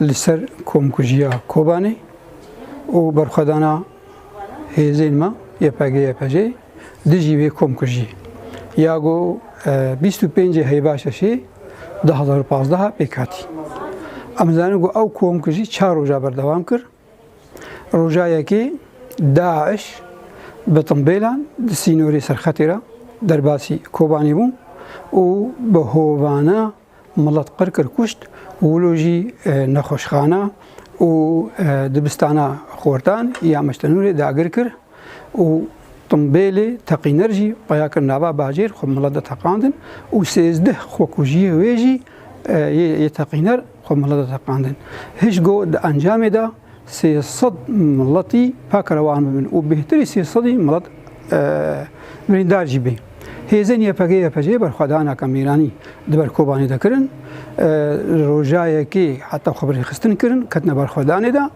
li ser komkujiya Kobanê û berxwedana hêzên me YPG-YPJ'ê dijî vê komkujiyê ya ku bîst û pêncê heyva şeşê du hezar û pazdeh pêk hatî. Em dizanin ku ew komkujî çar roja berdewam kir. Roja yekê DAIŞ bi timbêlan di sînorê serxetê re derbasî Kobanê bû û bi hovana Milet qir kir kuşt û wilo jî nexweşxana û dibistana xortan ya Meştenûrê dagir kir û timbêlê teqîner jî peya kir nava bajêr xwe milet de teqandin û sêzdeh xwekujiyê wê jî yê teqîner xwe milet de teqandin. Hişgo di encamê de Sê sed miletî paka re wan bibin û bêhtirî sê sedî milet birîndar jî bê. Hêzên YPG-YPC'yê berxwedaneke mêranî di ber Kobanê de kirin. Li rojayekê heta xwebirêxistin kirin, ketine berxwedanê de.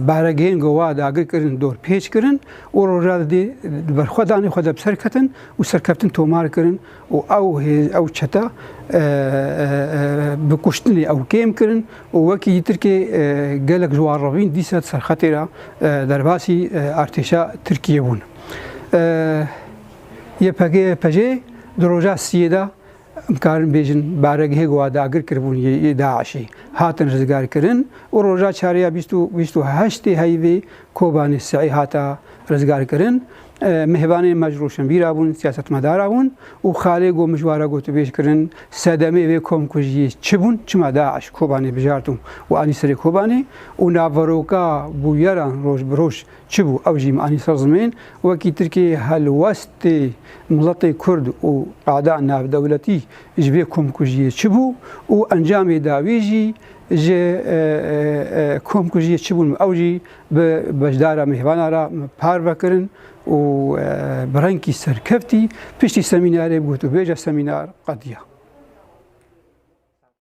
Baregehên gova dagir kirin, dorpêç kirin û roja di dê di berxwedanê xwe de bi ser ketin û serkeftin tomar kirin. û ew hêz ew çete bi kuştinê ew kêm kirin û wekî yî Tirkê gelek ji wan revîn dîsa di ser xetê re derbasî artêşa Tirkiyê bûn. YPG, YPJ di roja siyê de em karin bêjin baregehê ku wa dagir kiribûn yê DAIŞ'ê hatin rizgarkirin û roja çarê ya bîst û bîst û heştê heyvê Kobanê Si'ê hate rizgarkirin. Mihvanên me ji roşenvîra bûn, siyasetmedara bûn û xalê got mijwara gotûbêj kirin, sedemê vê komkujiyê çi bûn, çima DAIŞ Kobanê bijarto û anî serê Kobanê û naveroka bûyeran roj bi roj çi bû ew jî me anî ser zimên, wekî Tirkiyeyê helwestê miletê Kurd û qada navdewletî ji vê komkujiyê çi bû û encamê dawî jî ji komkujiyê çi bûn ew jî Bi beşdara mêvanan re parve kirin û bi rengkî serkeftî piştî semînarê bi gotûbêja semînar qediya.